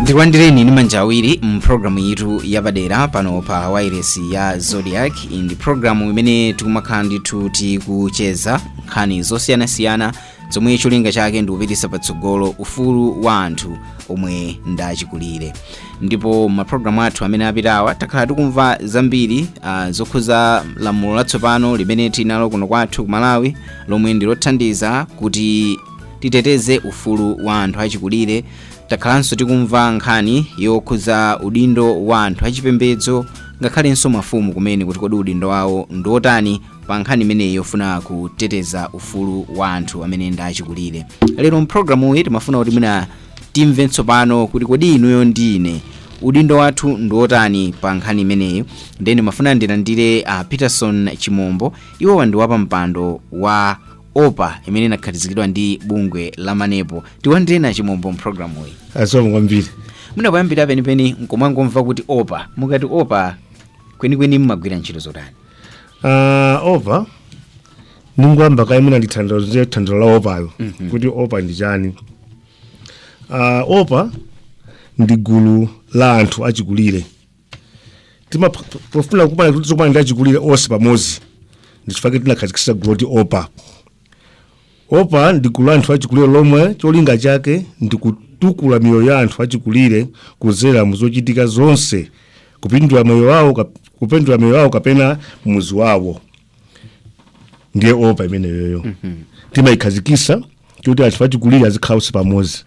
ndikulandireni ndi manja awiri mu programu yitu yapadera pano pa wairesi ya zodiak ndi programu imene tikumakhala ndithu tikucheza nkhani zosiyanasiyana zomwe cholinga chake ndi kupititsa patsogolo ufulu wa anthu omwe ndachikulire ndipo mapulogalamu athu amene apitawa takhala tikumva zambiri uh, zokhuza lamulo latsopano limene tinalo kuno kwathu ku malawi lomwe ndi lothandiza kuti titeteze ufulu wa anthu achikulire takhalanso tikumva nkhani yokhuza udindo wa anthu achipembedzo ngakhalenso mafumu kumene kuti kodi udindo wawo ndiwotani pa nkhani imeneyi yofuna kuteteza ufulu wa anthu amene ndi achikulire lero mpulogalamu iyi timafuna kuti mwina timve tsopano kuti kodi inuyo ndi ine udindo wathu ndi wotani pa nkhani imeneyi ndiye ndimafuna ndilandire uh, peterson chimombo iwowa ndi wapampando wa opa imene inakhazikitsidwa ndi bungwe la manepo tilandireni a chimombo mpulogalamu iyi zikomo kwambiri mwina poyambira penipeni tikumangomva kuti opa mukati opa kwenikweni mmagwira ntchito zotani Ah, opa ndingoyamba kaye mwina nditanthauzire tanthauzo la opayo kuti opa ndi chani Ah, opa ndi gulu la anthu achikulire tima pofuna kumana kuti tizikumana ndi achikulire onse pamodzi nchifukwa chake tinakhazikisa gulu loti opa opa ndi gulu la anthu achikulire lomwe cholinga chake ndi kutukula miyoyo ya anthu achikulire kudzera mu zochitika zonse kupindula moyo wawo kap- kupindula moyo wawo kapena muzi wawo ndiye opa imeneyoyo timayikhazikisa kuti anthu achikulire azikhala onse pamodzi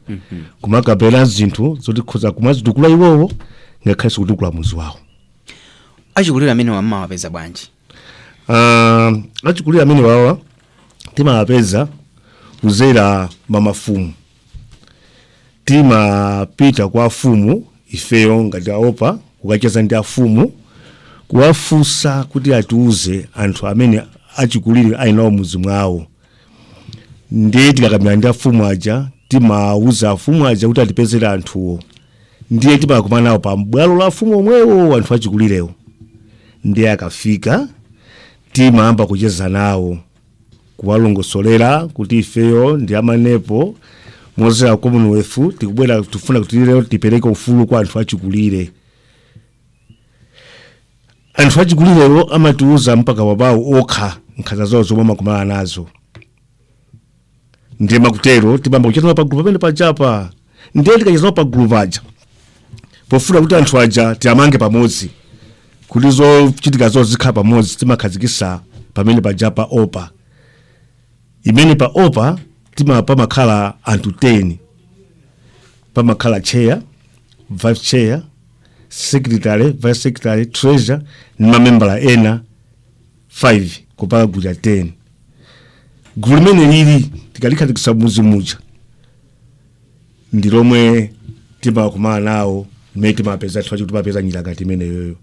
kumakambirana zinthu zoti nkutha kumazitukula iwowo ngakhalenso kutukula muzi wawo achikulire amenewa mumawapeza bwanji Ah, achikulire amenewawa timawapeza kuzera mwa mafumu timapita kwa afumu ifeyo ngati aopa kukacheza ndi afumu kuwafunsa kuti atiuze anthu amene achikulire ali nawo mudzi mwawo ndiye tikakambirana ndi afumu aja timauza afumu aja kuti atipezere anthuwo ndiye timakumana nawo pa m'bwalo la afumu omwewo anthu achikulirewo ndiye akafika timayamba kucheza nawo kuwalongosolera kuti ifeyo ndi a manepo modzera commonwealth tabwera tifuna kuti lero tipereke ufulu kwa anthu achikulire anthu achikulirewo amatiuza pakamwa pawo okha nkhanza zawo zomwe amakumana nazo ndiye makutero timayamba kucheza nawo pagulu pamene pajapo ndiye tikacheza nawo pagulu paja pofuna kuti anthu aja tiwamange pamodzi kuti zochitika zawo zikhale pamodzi timakhazikisa pamene pajapo opa imene pa opa tima pamakhala anthu 10 pamakhala chair vice chair secretary vice secretary treasurer ndi mamembala ena 5 kupanga gulu la 10 gulu limeneli tikalikhazikitsa mudzi muja ndi lomwe timakumana nawo mmene timapeza anthu aja timapeza njira ngati imeneyoyo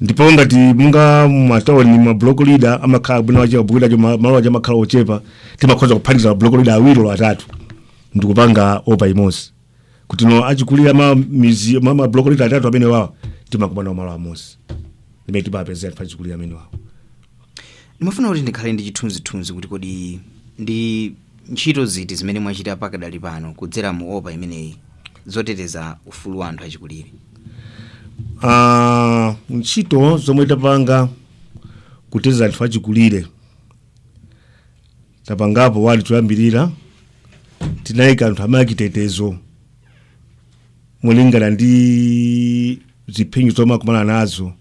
ndipo ngati monga matawuni ma block leader amakhala bwino wache block leader cho- malo ache amakhala ochepa timakhoza kuphatikiza ma block leader awiri olo atatu ndikupanga opa imodzi kuti no achikulire ma midzi ma, ma block leader atatu amene wawa timakumana malo amodzi mmene timapeza anthu achikulire amene wawa ndimafuna kuti ndikhale ndi chithunzithunzi kuti kodi ndi ntchito ziti zimene mwachita pakadali pano kudzera mu opa imeneyi zoteteza ufulu wa anthu achikulire Ah, ntchito zomwe tapanga kuteteza anthu achikulire tapangapo poyambirira tinayika anthu ena achitetezo molingana ndi zipsinjo zomwe akumana nazo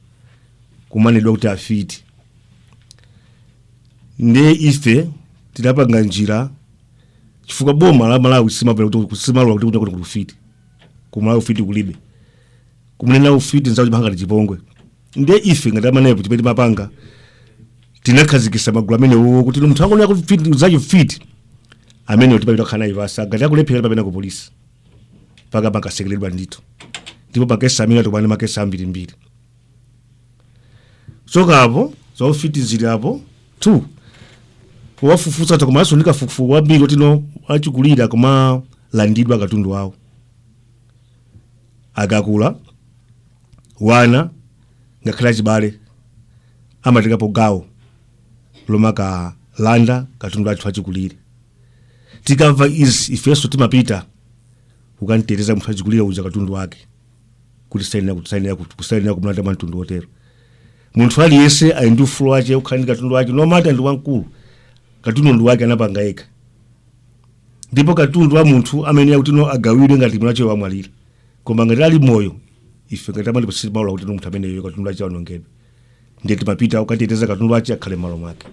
kumanenedwa kuti afiti ndiye ife tinapanga njira chifukwa boma la malawi silimalola kuti ku silimalola kuti kuli kuti ufiti kumalawi ufiti kulibe kumunena ufiti nzako chimangokhala chipongwe nde ife ngati amanepo chimene timapanga tinakhazikisa magulu amenewo kuti munthu angonena kuti fit- nzake mfiti amenewo timapita kukhala naye pansi ngati akulephera timapita ku polisi mpaka amakatsekeredwa ndithu ndipo makesi amene atukwana makesi ambirimbiri so alipo zaufiti zili apo two tafufuza komanso ndi kafukufuku wambiri oti no achikulire kumalandidwa katundu wawo akakula wana ngakhale achibale amatengapo gawo lomakalanda katundu wa anthu achikulire tikamva izi ifenso timapita kukanteteza munthu wachikulire uja katundu wake kuti sayenera kuti sayenera kuti kusayenera kumlanda mwa mtundu wotero munthu aliyense ali ndi ufulu wache okhala ndi katundu wake no matter ndi wamkulu katundu ndi wake anapanga yekha ndipo katundu wa munthu amayenera kuti no agawidwe ngati mwiniwache wamwalira koma ngati ali moyo ife ngati amatipasisi maula kuti munthu ameneyo katundu ache aonongedwe ndiye timapita kukateteza katundu ache akhale m'malo mwake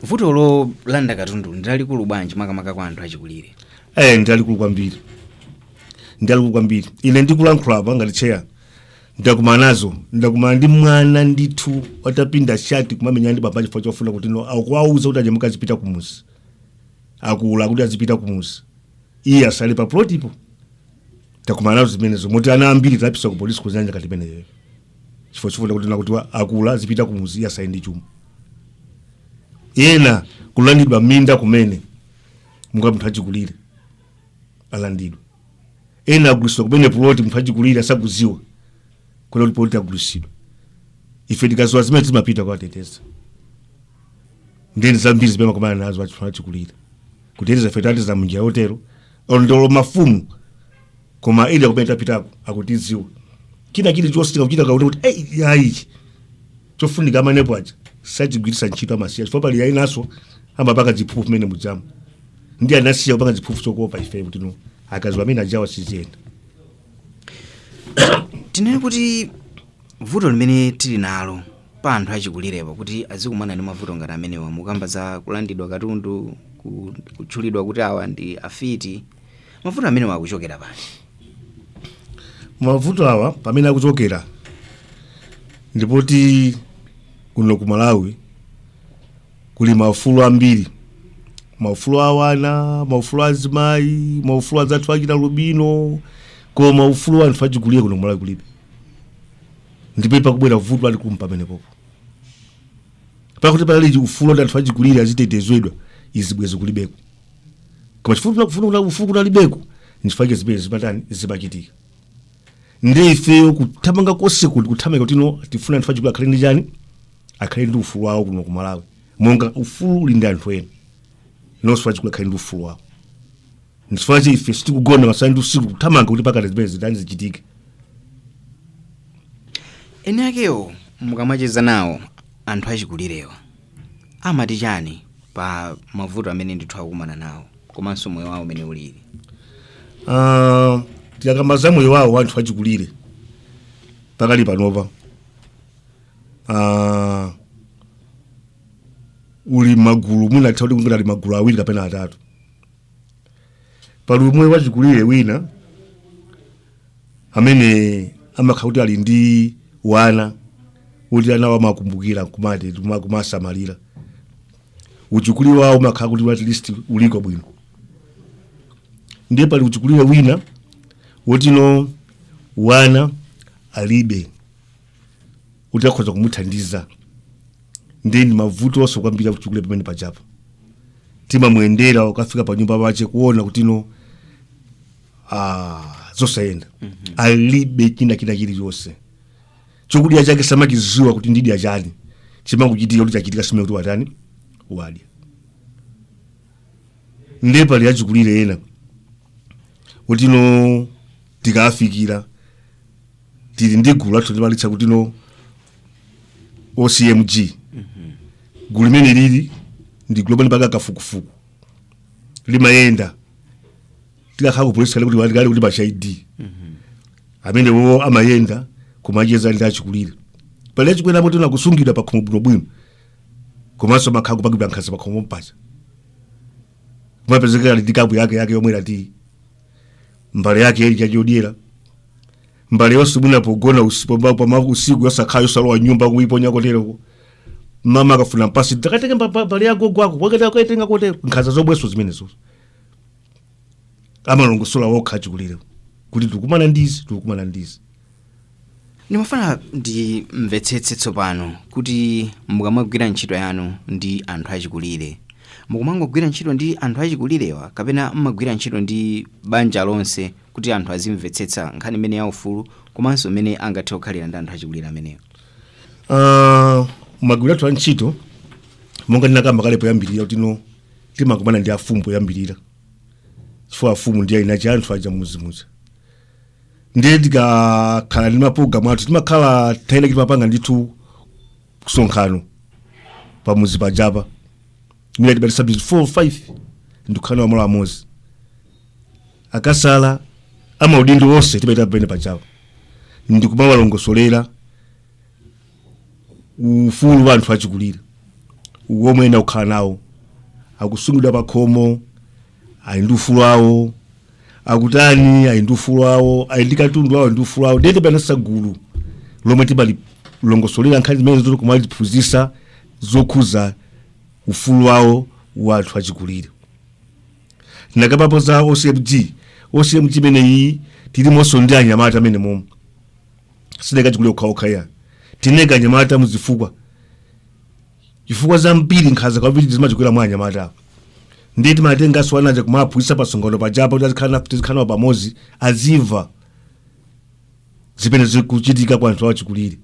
vuto lolanda katundu ndilalikulu bwanji makamaka kwa anthu achikulire eh ndilalikulu kwambiri ndilalikulu kwambiri ine ndikulankhula apa ngati cheya ndakumana nazo ndakumana ndi mwana ndithu atapinda shati kumamenyana ndi baba chifukwa chofuna kuti no akuwauza kuti ah mukazipita kumuzi akula kuti azipita kumuzi iye asale pa plotipo takumana nazo zimenezo moti ana ambiri tapitsa ku polisi ku zanja ngati imeneyo chifukwa chofuna kuti no kuti wa- akula azipita kumuzi asale ndi chuma ena kulandidwa minda kumene monga munthu achikulire alandidwa ena agulisidwa kumene puloti munthu achikulire asakuziwa kuti puloti agulisidwa ife tikaziwa zimenezi timapita kukawateteza ndeni zambiri zimene amakumana nazo achikulire kuti ndiye ife tathandiza munjira yotero ndolo mafumu koma eni akumene tapitako akatiziwa china chili chositika kuchitika kuti kuti ei iyayi chofunika amenepo aja sachigwiritsa ntchito amasiya chifukwa pali enanso amapanga ziphuphu mmene mujamu ndi anasiya kupanga ziphuphu kuopa ife kuti no akaziwa amene ajawa siziyenda tinene kuti vuto limene tili nalo pa anthu achikulirepo kuti azikumana ndi mavuto ngati amenewa mukamba za kulandidwa katundu ku- kutchulidwa kuti awa ndi afiti mavuto amenewa akuchokera pati mavuto awa pamene akuchokera ndipoti kuno ku malawi kuli maufulu ambiri maufulu a ana maufulu a azimayi maufulu azathu achialubino koma maufulu a anthu achikulire kuno ku malawi kulibe ndipamene pakubwera vuto lalikulu pamenepopo kukati panali ufulu kuti anthu achikulire azitetezedwa izi bwezi kulibeko koma chifukwa chakuti ufulu kunalibeko nchifukwa chake zimene zimatani zimachitika ndi ifeyo kuthamanga konse tiku kuthamanga kuti no tifuna anthu achikulire akhale ndi chani akhale ndi ufulu wawo kuno ku malawi monga ufulu uli ndi anthu ena naonso achikulire akhale ndi ufulu wawo nchifukwa chake ife sitikugona masana ndi usiku kuthamanga kuti pakuti zimenezi zitani zichitike eni akewo mukamacheza nawo anthu achikulirewa amati chani pa mavuto amene ndithu akukumana nawo komanso moyo wawo umene ulili Ah, tikakamba za moyo wawo anthu achikulire pakali panopa Ah, uli magulu mwina titati kungoti magulu awiri kapena atatu pali umwe wachikulire wina amene amakhala kuti ali ndi wana kuti anawo amamukumbukira kumati kuma- kumamusamalira uchikulire wawo umakhala kuti at least uliko bwino ndiye pali uchikulire wina woti no wana alibe kuti akhoza kumuthandiza ndiye ndi mavuto onse kwambiri achikulire pamene pajapo timamuyendera ukafika pa nyumba pache kuona kuti no ah, zosayenda alibe china china chilichonse chokudya chake samachiziwa kuti nidya chani chimangochitika kuti chachitika sim'mene kuti watani wadya ndiye pali achikulire ena kuti no tikafikira tili ndi gulu lathu timalitcha kuti no ocmg gulu limene lili ndi gulu lomwe limapanga kafukufuku limayenda tikakhala kupolisi kale kuti walikale kuti pacha id amenewo amayenda kumacheza ndi achikulire pali achikulire amene tena kusungidwa pakhomo bwinobwino komanso amakhala kupangidwa nkhanza pakhomo paja kumapezeka ali ndi kapu yake yake yomwe lati mbale yake ili chachodyera mbale yonse mwina pogona usi- pama- pama- usiku yosakhala yosalowa m'nyumba kuiponya koteroko mama akafuna kumpasa takatenge mbale ya gogo wako akati akaitenga kotero nkhanza zomwezo zimenezo amalongosola wokha achikulirewo kuti tikukumana ndizi tikukumana ndizi ndimafuna ndimvetsetse tsopano kuti mukamagwira ntchito yanu ndi anthu achikulire mukumangogwira ntchito ndi anthu achikulirewa kapena mmagwira ntchito ndi banja lonse kuti anthu azimvetsetsa nkhani imene ya ufulu komanso mmene angathe kukhalira ndi anthu achikulire amenewo Ah, magwiridwe athu a ntchito monga ndinakamba kale poyambirira kuti no timakumana ndi afumu poyambirira chifukwa afumu ndi eni ache anthu aja m'muzi muja ndiye tikakhala ndi mapulogalamu athu timakhala tayenda timapanga ndithu msonkhano pamuzi pajapa mwina timati sabiti 4 5 ndikukhala nawo malo amodzi akasalala amaudindo onse timawaitana pamene pajapa ndikumawalongosolera ufulu wa anthu achikulire womwe ena akukhala nawo akusungidwa pakhomo ali ndi ufulu wawo akutani ali ndi ufulu wawo ali ndi katundu wawo ali ndi ufulu wawo ndiye timaphatikiza gulu lomwe timalilongosolera nkhani zimenezo ndi kumaliphunzisa zokhuza ufulu wawo wa anthu achikulire ndakambapo za ocmg ocmg imeneyi tilimonso ndi anyamata amene momwe sitinaike achikulire okhaokha ayi tinaika anyamatamo chifukwa chifukwa zambiri nkhanza kwambiri zimachokera mwa anyamata apo ndiye timatenganso ana aja kumaphunzitsa pamsonkhano pajapa kuti azikhala- tizikhala nawo pamodzi azimva zimene zikuchitika kwa anthu awo achikulire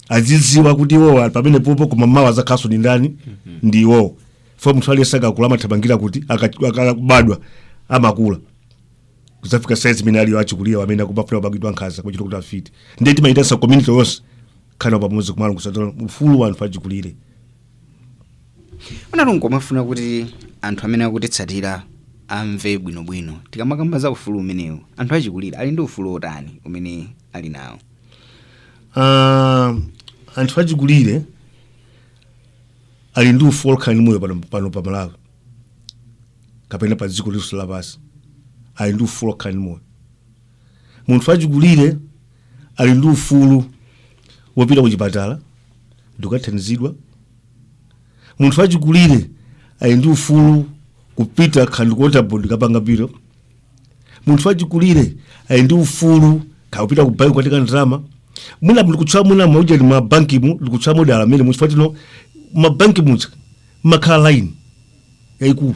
azidziwa kuti iwowo ali pamene popo koma mawa azakhalanso ndi ndani ndi iwowo fo munthu aliyense akakula amathamangira kuti aka- akabadwa amakula kudzafika saizi imene aliyo achikulire amene akumafuna kupangidwa nkhanza kuchita kuti afite ndiye timayitanitsa community yonse khala pamodzi kumalongosola ufulu wa anthu achikulire nanunso nkumafuna kuti anthu amene akutitsatira amve bwinobwino tikamakamba za ufulu umenewu anthu achikulire ali ndi ufulu otani umene ali nawo Ah, anthu achikulire ali ndi ufulu okhala ndi moyo pano, pano pa malawi kapena pa dziko lonse lapansi ali ndi ufulu okhala ndi moyo munthu wachikulire ali ndi ufulu wopita ku chipatala ndikukathandizidwa munthu wachikulire ali ndi ufulu kupita kaya ndi ku waterboard kapanga bill munthu wachikulire ali ndi ufulu kapita ku banki kukatenga ndalama mwina tikutchula mwina mauja ndi mabankimu tikutchula modala amenemu chifukwa timanena mabanki muja makhala line yaikulu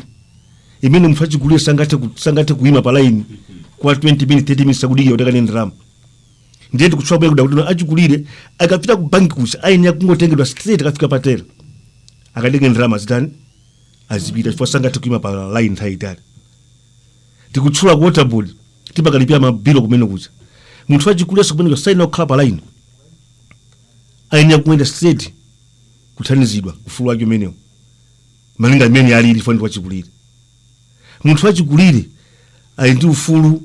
imene munthu achikulire sangathe ku- sangathe kuima pa line kwa 20 minutes 30 minutes akudikira kuti akatenge ndalama ndiye tikutchula bwe kuti achikulire akapita ku banki kuja ayenera kungotengedwa straight akafika pa tera akatenge ndalama zitani azipita chifukwa sangathe kuima pa line nthawi yaitali tikutchula ku waterboard timakalipira mabilu kumene kuja munthu wachikulirenso kumene kuja sayenera kukhala pa line ayenera kuyenda straight kuthandizidwa ufulu wake umenewo malinga mmene alili chifukwa ndi wachikulire munthu wachikulire ali ndi ufulu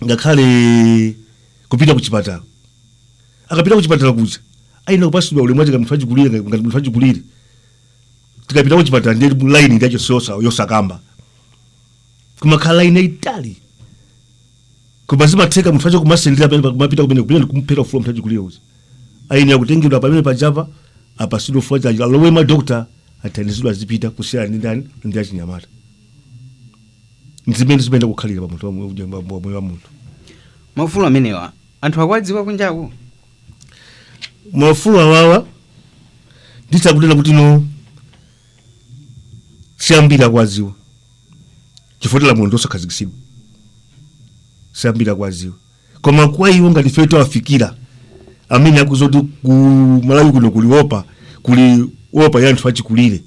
ngakhale kupita kuchipatala akapita kuchipatala kuja ayenera kupasidwa ulemu wake munthu wachikulire ngati ngati munthu wachikulire tikapita kuchipatala ndi laini ndi yachoncho yosakamba kumakhala laini yaitali koma zimatheka munthu uja kumasendera pamene pa- kumapita kumene kumene kumuphera ufulu munthu achikulire uja ayenera kutengedwa pamene pajapa apasidwe ufulu wake alowe mwa dokta athandizidwe azipita kusiyana ndi ndani ndi achinyamata nzimene zimayenera kukhalira pa munthu wa mu- wa mu- wa moyo wa munthu maufulu amenewa anthu akuwadziwa kunjaku maufulu awawa nditha kunena kuti no si ambiri akuwaziwa chifukwa lamulo ndilosakhazikitsidwa sambiri akuwaziwa koma kwa iwo ngati ife tawafikira amene akuziwa kuti ku malawi kuno kuli opa kuli opa ya anthu achikulire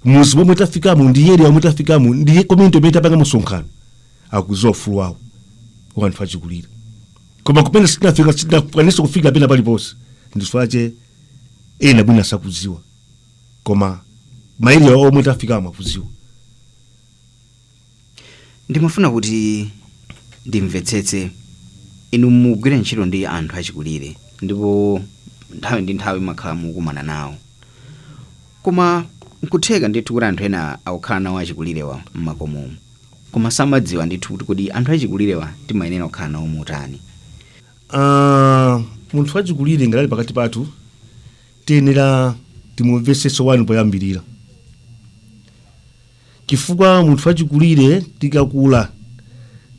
muzi omwe tafikamo ndi eriya omwe tafikamo ndi komiti zomwe tapanga msonkhano akuziwa ufulu wawo wa anthu achikulire koma kupena sitinafika sitinakwanisa kufika pena paliponse nchifukwa chake ena bwina sakuziwa koma maeria omwe tafikamo akuziwa ndimafuna kuti ndimvetsetse inu mukugwira ntchito ndi anthu achikulire ndipo nthawi ndi nthawi mumakhala mukukumana nawo koma nkutheka ndithu kuti anthu ena akukhala nawo achikulirewa mmakomomo koma samadziwa ndithu kuti kodi anthu achikulirewa timayenera kukhala nawo motani Ah, munthu wachikulire ngati ali pakati pathu tiyenera timumvetsetse wani poyambirira chifukwa munthu wachikulire tikakula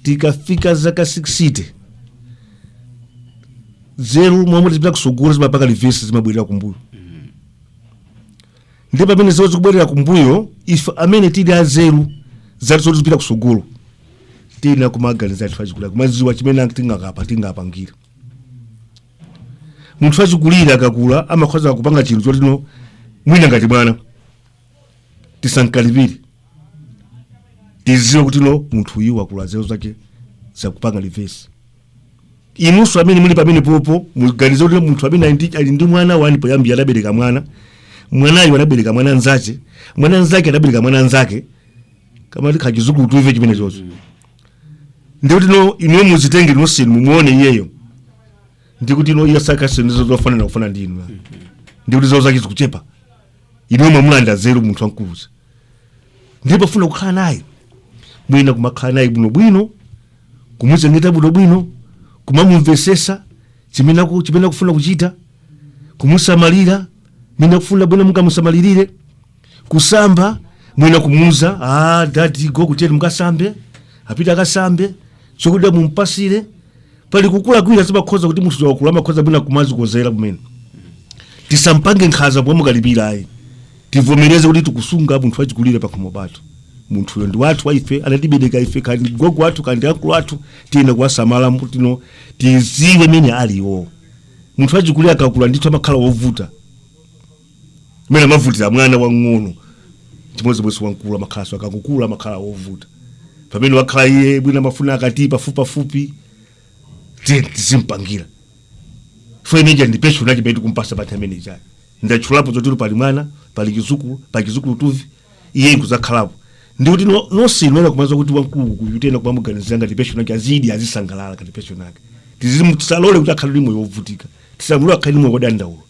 tikafika zaka 60 zeru mmalo moti tipita kusogolo zimapanga reverse zimabwerera kumbuyo ndi pamene zeru zikubwerera kumbuyo ife amene tili azeru zathu zoti zikupita kusogolo tiyenera kumaganiza anthu achikulire kumadziwa chimene tingakapa tingapangira munthu wachikulire akakula amakhoza kupanga chinthu choti ino mwina ngati mwana tisamkalipire tiziwe kuti no munthu uyu wakula zeru zake zikupanga reverse inunso amene muli pamenepopo muganize kuti munthu amene ali ndi- ali ndi mwana wani poyambira adabereka mwana mwanayo adabereka mwana nzache mwana nzake adabereka mwana nzake kamati kachizukulu two-five chimenechonso ndikuti no inuyo muzitenge nonse inu mumuone iyeyo ndikuti no iye zakazi sizofanana kufanana ndi inu ndikuti zeru zake zikuchepa inuyo mwamulandira zeru munthu wamkulu uja ndiye pofuna kukhala naye mwina kumakhala naye bwinobwino kumuchengeta bwinobwino kumamumvesesa chimene aku- chimene akufuna kuchita kumusamalira mene akufuna bwino mungamusamalirire kusamba mwina kumuuza ah, adadi gogo tiyeni mukasambe apita akasambe chokudya mumpasire pali kukula kwina zimakhoza kuti munthu wakula amakhoza mwina kumazikozera kumene tisampange nkhaza pomwe mukalipira ayi tivomereze kuti tikusunga munthu wachikulire pakhomo pathu munthuyo ndi wathu wa ife anatibereka ife kaya ndi gogo wathu kaya ndi akulu athu tiyenera kuwasamala kuti no tiziwe mene alili munthu wachikulire akakula ndithu amakhala wovuta mmene amavutira mwana wang'ono chimodzimodzi wamkulu amakhalanso akakula amakhala wovuta pamene wakhala iye bwina amafuna akati pafupipafupi tiye tizimpangira chifukwa ndiye ija ndi pension yake pamene tikumpasa panthawi imene ijayo ndatchulapo zotero pali mwana pali chizukulu pali chizukulutuvi iye nkuzakhalapo ndikuti no- nonse muyenera kumadziwa kuti wamkulu uyu tiyenera kumamuganizira ngati pension yake azidya azisangalala ngati pension yake tisamulole kuti akhale ndi moyo wovutika tisamulole akhale ndi moyo wodandaula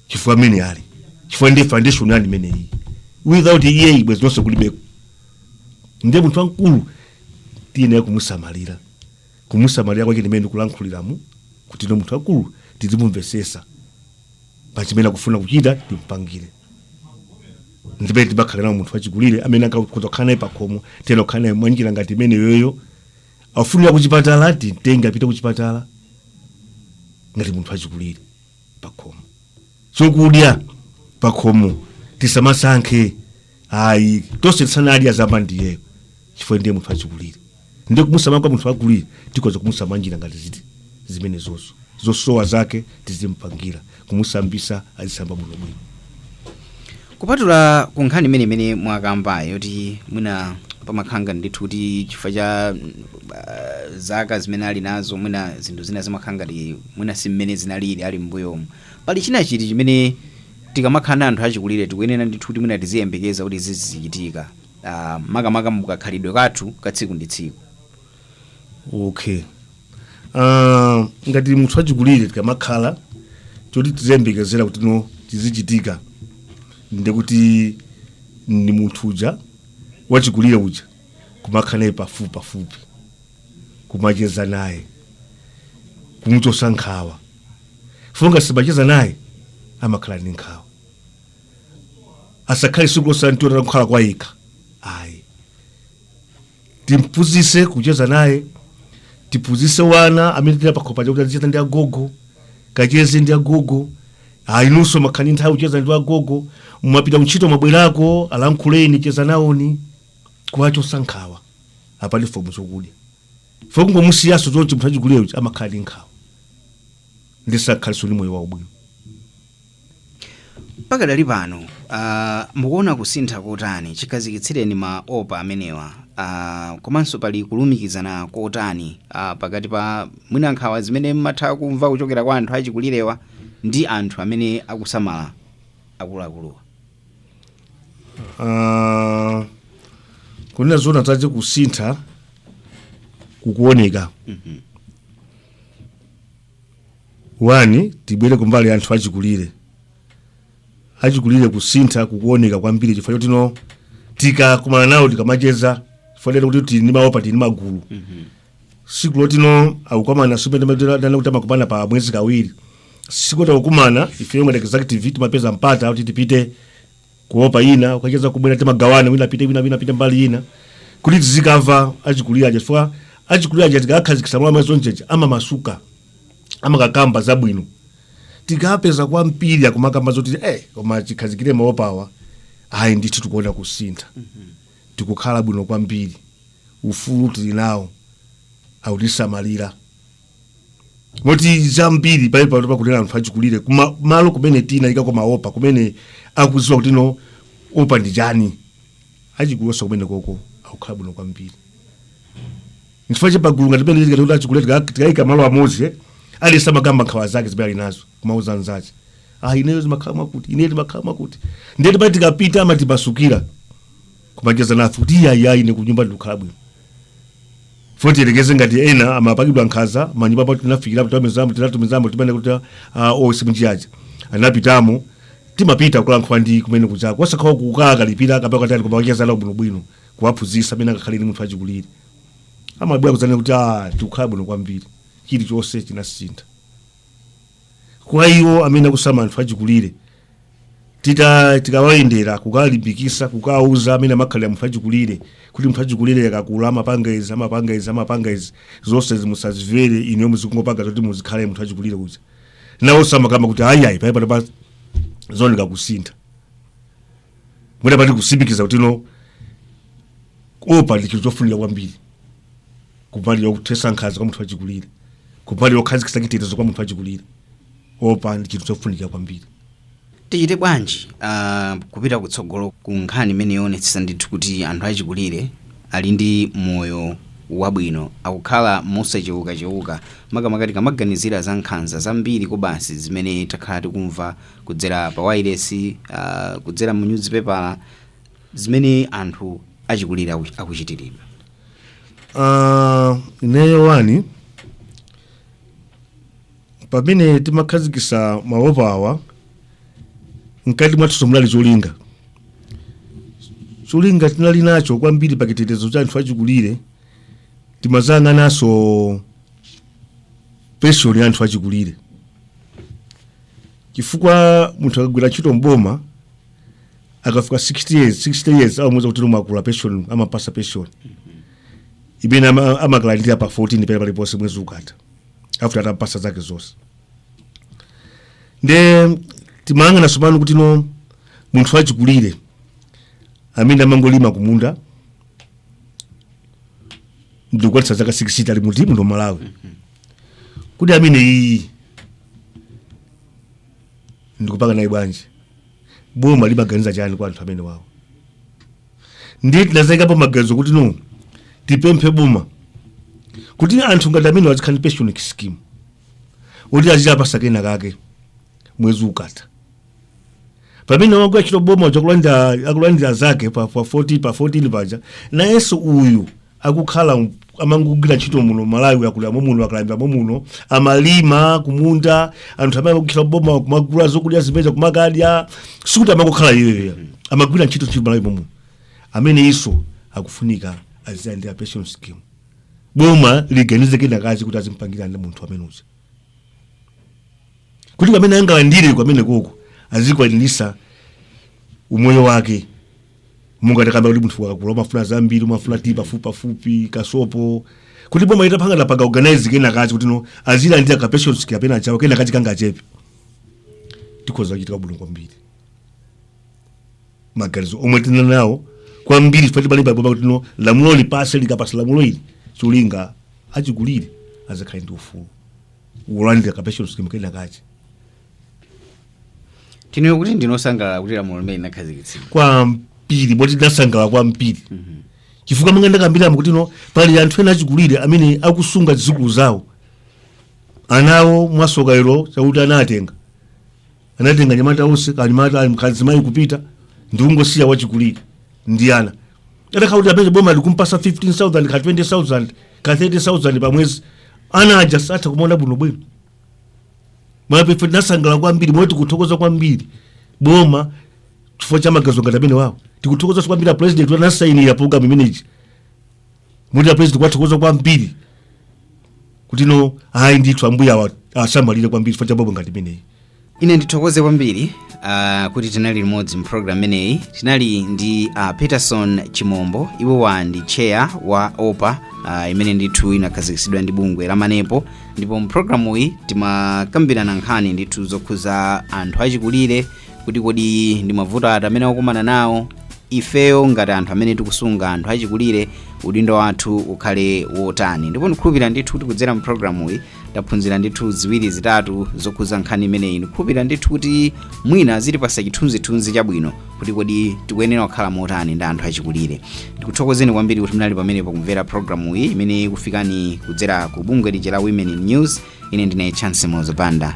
chifukwa amene ali chifukwa ndi foundation yanu imeneyi without iyeyi bwezi nonse kulibeko ndiye munthu wamkulu tiyenera kumusamalira kumusamalira kwake ndimene ndikulankhuliramu kuti no munthu wamkulu tizimumvesesa pachimene akufuna kuchita timpangire ndipete timakhala naye munthu wachikulire amene takhoza kukhala naye pakhomo tiyenera kukhala naye mwanjira ngati imeneyoyo afunira kuchipatala timtenge apite kuchipatala ngati munthu achikulire pakhomo chokudya pakhomo tisamasankhe ayi tonse tisanadye aziyamba ndiyeyo chifukwa ndiye munthu achikulire ndiye kumusamala kwa munthu wachikulire tikhoza kumusamala njira ngati izi zimenezozo zosowa zake tizimpangira kumusambisa azisamba bwinobwino kupatula ku nkhani imene imene mwakambayo yoti mwina pamakhala ndithu kuti chifukwa cha mm, ah, zaka zimene ali nazo mwina zinthu zina zimakhala ngati mwina si mmene zinalili ali m'mbuyomu pali china chiti chimene tikamakhala na anthu achikulire tikuyenera ndithu kuti mwina tiziyembekeza kuti zizichitika ah, makamaka mukakhalidwe kathu ka tsiku ndi tsiku okay Ah, ngati munthu achikulire tikamakhala choti tiziyembekezera kuti no chizichitika ndi kuti ndi munthu uja wachikulire uja kumakhala naye pafupi pafupi kumacheza naye kumuchosa nkhawa chifukwa ngati simucheza naye amakhala ndi nkhawa asakhale tsiku lonse tamuona akukhala kwayekha ayi timphunzise kucheza naye tiphunzise wana amene ali pakhomo paja kuti azicheza ndi agogo kacheze ndi agogo Ah, inunso muzikhala ndi nthawi kucheza ndi agogo mwapita kuntchito mwabwerako alankhuleni cheza nawoni kuwachosa nkhawa apatseni zokudya chifukwa kungomusiyaso zonse munthu achikulire uja amakhala ndi nkhawa ndiye sakhalaso ndi moyo waubwino Pakadali pano, a, mukuona kusintha kotani chikhazikitsireni ma OPA amenewa, a, komanso pali kulumikizana kotani a, pakati pa mwina nkhawa zimene mmatha kumva kuchokera kwa anthu achikulirewa ndi anthu amene akusamala akuluakuluwa? Ah, kunena zoona zake kusintha kukuoneka wani tibwere kumbali ya anthu achikulire achikulire kusintha kukuoneka kwambiri chifukwa choti no tikakumana nawo tikamacheza chifukwa tete kuti tili ndi maopa tili ndi magulu siku loti ano akukumana si penapa ndanena kuti amakumana pa mwezi kawiri siku loti akukumana ifeyo ngati executive timapeza mpata kuti tipite ku opa ina kukacheza kubwera timagawana wina apite wina wina apite mbali ina kuti tizikava achikulira aja chifukwa achikulira aja tikakhazikitsa mwa mazo njeje amamasuka amakakamba zabwino tikapeza kwambiri akumakamba zoti eh koma chikhazikire maopawa ai ndithu tikuona kusintha tikukhala bwino kwambiri ufulu tili nawo akutisamalira moti zambiri pali pano pakunena anthu achikulire kuma malo kumene tinaikako maopa kumene akuziwa kuti no opa ndi chani achikulire kumene koko akukhala bwino kwambiri nchifukwa chake pagulu ngati penepa tikati kuti achikulire tika- tikayika malo amodzi eh, aliyense amakamba nkhawa zake zimene ali nazo kumauza nzache ah ineyo zimakhala mwakuti ineyo timakhala mwakuti ndiye tikati tikapita amatimasukira kumacheza nafe kuti iyayi ayi ine kunyumba ndikukhala bwino fo tiyerekeze ngati ena amapangidwa nkhanza mmanyumba pa tinafikirapo tamezamo tinatumizamo timene kuti a osi mnjiyaja anapitamo timapita kulankhula ndi kumene kuchako osakhala kukawakalipira kapena kutani koma kumacheza nawo bwino bwino kuwaphunzitsa mmene angakhalire ni munthu achikulire amabwera kudzanena kuti ah tikukhala bwino kwambiri chilichonse chinasintha kwa iwo amene akusamala anthu achikulire tita tikawayendera kukawalimbikisa kukawauza mmene amakhalira munthu achikulire kuti munthu achikulire akakula amapanga izi amapanga izi amapanga izi zonse musazimvere inu muzikungopanga zoti muzikhale munthu achikulire uja nawonso amakamba kuti ayiayi panopa tapa zaoneka kusintha mwina paja mukusimikiza kuti no opa ndi chinthu chofunika kwambiri kumbali yokuthesa nkhanza kwa munthu achikulire kumbali yokhazikisa chitetezo kwa munthu achikulire opa ndi chinthu chofunika kwambiri tichite bwanji uh, kupita kutsogolo ku nkhani imeneyi yoonetsetsa ndithu kuti anthu achikulire ali ndi moyo wabwino akukhala mosachewukachewuka makamaka tikamaganizira za nkhanza zambiri kobasi zimene takhala tikumva kudzera pa wailesi uh, kudzera mu nyuzipepala zimene anthu achikulire aku- akuchitiridwa Ah, ineyo wani pamene timakhazikisa maopa awa mkati mwathu munali cholinga cholinga tinali nacho kwambiri pa chitetezo cha anthu achikulire timayang'ananso pension ya anthu achikulire chifukwa munthu akagwira ntchito mboma akafika 60 years 60 years amamuuza kuti wakula pension amampasa pension imene ama- amakalandira pa 14 pena paliponse mwezi ukatha after atampasa zake zonse nde timayang'ana tsopano kuti no munthu wachikulire amene amangolima kumunda ndikukwanitsa zaka 60 ali muti muno malawi kuti ameneyi ndikupanga naye bwanji boma limaganiza chani kwa anthu amenewawo ndiye tinazayikapo maganizo kuti no tipemphe boma kuti anthu ngati amenewa azikhala ndi pension scheme kuti aziwapasa kena kake mwezi ukatha pamene wogwira ntchito m'boma uja akulandira akulandira zake pa, pa 14 pa 14 paja nayenso uyu akukhala m- amangogwira ntchito muno malawi akulira momuno akalambira momuno amalima kumunda anthu amene akukhala m'boma kumagula zokudya zimenezo kumakadya sikuti amangokhala iyeyo amagwira ntchito ntchito malawi momuno ameneyiso akufunika azilandira pension scheme boma liganize kenakache kuti azimpangira ndi munthu amene uja kuti kamene angalandire kamenekoko azikwanirisa umoyo wake monga takamba kuti munthu akakula amafuna zambiri amafuna tiyi pafupipafupi kasopo kuti boma itapanga napanga organize kenakache kuti no azilandira ka pension kapena chawo kenakache kangachepe zikhoza kuchitika bwino kwambiri maganizo omwe tili nawo kwambiri chifukwa chibale paboma kuti no lamulo lipase likapasa lamulo ili cholinga achikulire azakhale ndi ufulu wolandira ka pension kenakache tinene kuti ndine osangalala kuti lamulo limene linakhazikitsidwa kwambiri moti ndinasangalala kwambiri chifukwa monga ndakambiramo kuti no pali anthu ena achikulire amene akusunga zidzukulu zawo anawo mwasoka lero chakuti anatenga anatenga nyamata onse kanyamata ali mkazimayi kupita ndi kungosiya wachikulire ndi ana atakhala kuti amene boma likumpasa 15000 ka 20000 ka 30000 pa mwezi ana aja azatha kumaona bwinobwino mwape ife tinasangalala kwambiri moti tikuthokoza kwambiri boma chifukwa cha maganizo ngati amenewawo tikuthokoza kwambiri apresident anasayinira program imeneyi moti apresident tikuwathokoza kwambiri kuti no ayi ndithu ambuye awasamalire kwambiri chifukwa cha program ngati imeneyi ine ndithokoze kwambiri uh, kuti tinali limodzi mu program imeneyi tinali ndi uh, peterson chimombo iwowa ndi chair wa opa uh, imene ndithu inakhazikitsidwa ndi bungwe la manepo ndipo mu programu iyi timakambirana nkhani ndithu zokhuza anthu achikulire kuti kodi ndi mavuto ati amene akukumana nawo ifeyo ngati anthu amene tikusunga anthu achikulire udindo wathu ukhale wotani ndipo ndikhulupirira ndithu kuti kudzera mu programu iyi taphunzira ndithu ziwiri zitatu zokhuza nkhani imeneyi ndikhulupirira ndithu kuti mwina zitipasa chithunzithunzi chabwino kuti kodi tikuyenera kukhala motani ndi anthu achikulire ndikuthokozeni kwambiri kuti munali pamenepo kumvera programu iyi imene ikufikani kudzera ku bungwe lija la women in news ine ndine chance mauzopanda